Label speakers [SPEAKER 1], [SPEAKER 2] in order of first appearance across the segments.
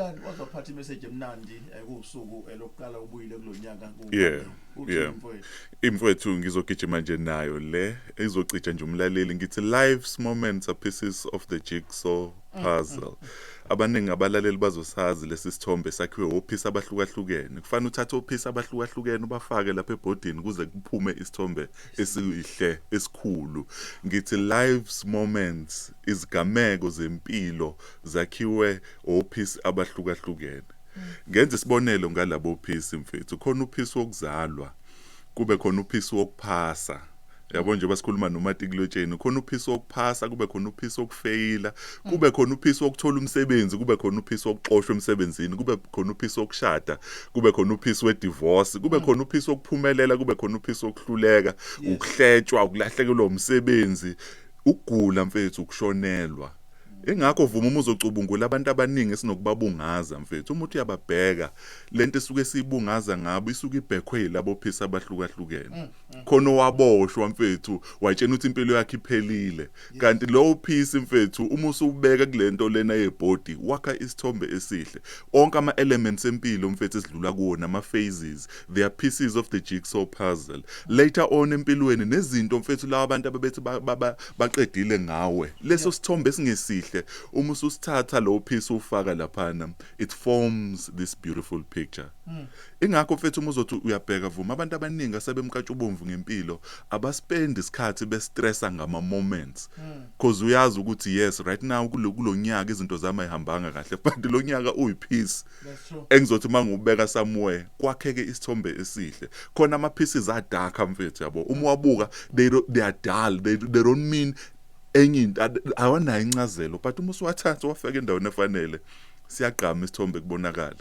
[SPEAKER 1] Mfundisani waze waphatha imessage emnandi eh, kuwusuku eh, lokuqala ubuyile
[SPEAKER 2] kulonyaka ku Yeah,
[SPEAKER 1] uthi
[SPEAKER 2] yeah. mfowethu
[SPEAKER 1] imfowethu
[SPEAKER 2] ngizogijima nje nayo le izocija nje umlaleli ngithi life's moments are pieces of the jigsaw puzzle abaningi abalaleli bazosazi lesi sithombe sakhiwe ophisi abahlukahlukene kufanele uthathe ophisi abahlukahlukene ubafake lapha ebhodini kuze kuphume isithombe esihle esikhulu ngithi life's moments izigameko zempilo zakhiwe ophisi abahlukahlukene. Ngenza isibonelo ngalabo phisi mfethu, khona uphisi wokuzalwa, kube khona uphisi wokuphasa. Yabo njengoba sikhuluma nomatikuletsheni, khona uphisi wokuphasa, kube khona uphisi wokufeyila, kube khona uphisi wokuthola umsebenzi, kube khona uphisi wokuxoshwa emsebenzini, kube khona uphisi wokushada, kube khona uphisi wedivorce, kube khona uphisi wokuphumelela, kube khona uphisi wokuhluleka, ukuhletshwa, ukulahlekelwa umsebenzi, ukugula mfethu, ukushonelwa. Ingakho vuma uma uzocubungula abantu abaningi esinokubabungaza mfethu uma uthi uyababheka lento esuke siyibungaza ngabo isuke ibhekhwe yilabo phisa abahlukahlukene mm, mm. khona owaboshwa mfethu watshena ukuthi impilo yakhe iphelile kanti lowo phisi mfethu uma usubeka kulento lena yebody wakha isithombe esihle onke ama elements empilo mfethu esidlula kuwona ama phases they are pieces of the jigsaw puzzle later on empilweni nezinto mfethu lawa abantu ababethi baqedile ngawe leso sithombe esingesihle uma ususithatha lowo piece ufaka laphana it forms this beautiful picture hmm. ingakho mfethu uma uzothi uyabheka vuma abantu abaningi asebemkatsha ubomvu ngempilo abaspend isikhathi bestressa ngama moments hmm. cause uyazi ukuthi yes right now kulonyaka izinto zami ayihambanga kahle but lonyaka uyipeace engizothi uma ngiwubeka somewhere kwakheke isithombe esihle khona ama pieces are dark mfethu yabo uma uwabuka they, they are dull they, they don't mean enye into awanayo incazelo but uma usuwathatha wafeka endaweni efanele siyagqama isithombe kubonakala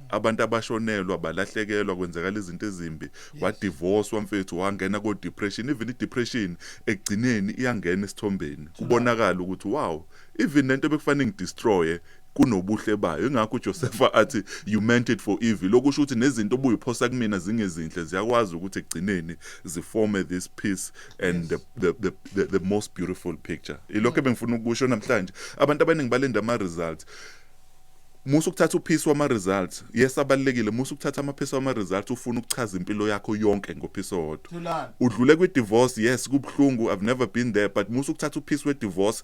[SPEAKER 2] abantu abashonelwa balahlekelwa kwenzakala izinto ezimbi wadivorce wamfethu wangena ko depression even i depression ekugcineni iyangena esithombeni kubonakala ukuthi wow even lento bekufanele ngidestroye kunobuhle bayo ingakho uJosefa athi you meant it for evil lokusho ukuthi nezinto obuyiphosa kumina zingezinhle ziyakwazi ukuthi ekugcineni ziforme this piece and the, the, the, the, the most beautiful picture ilokho ebengifuna ukusho namhlanje abantu abaningi balenda ama results musa ukuthatha uphisi wama results yes abalekile musa ukuthatha amaphisi wama results ufuna ukuchaza impilo yakho yonke ngophisi owodwa udlule kwi divorce yes kubhlungu i've never been there but musa ukuthatha uphisi we divorce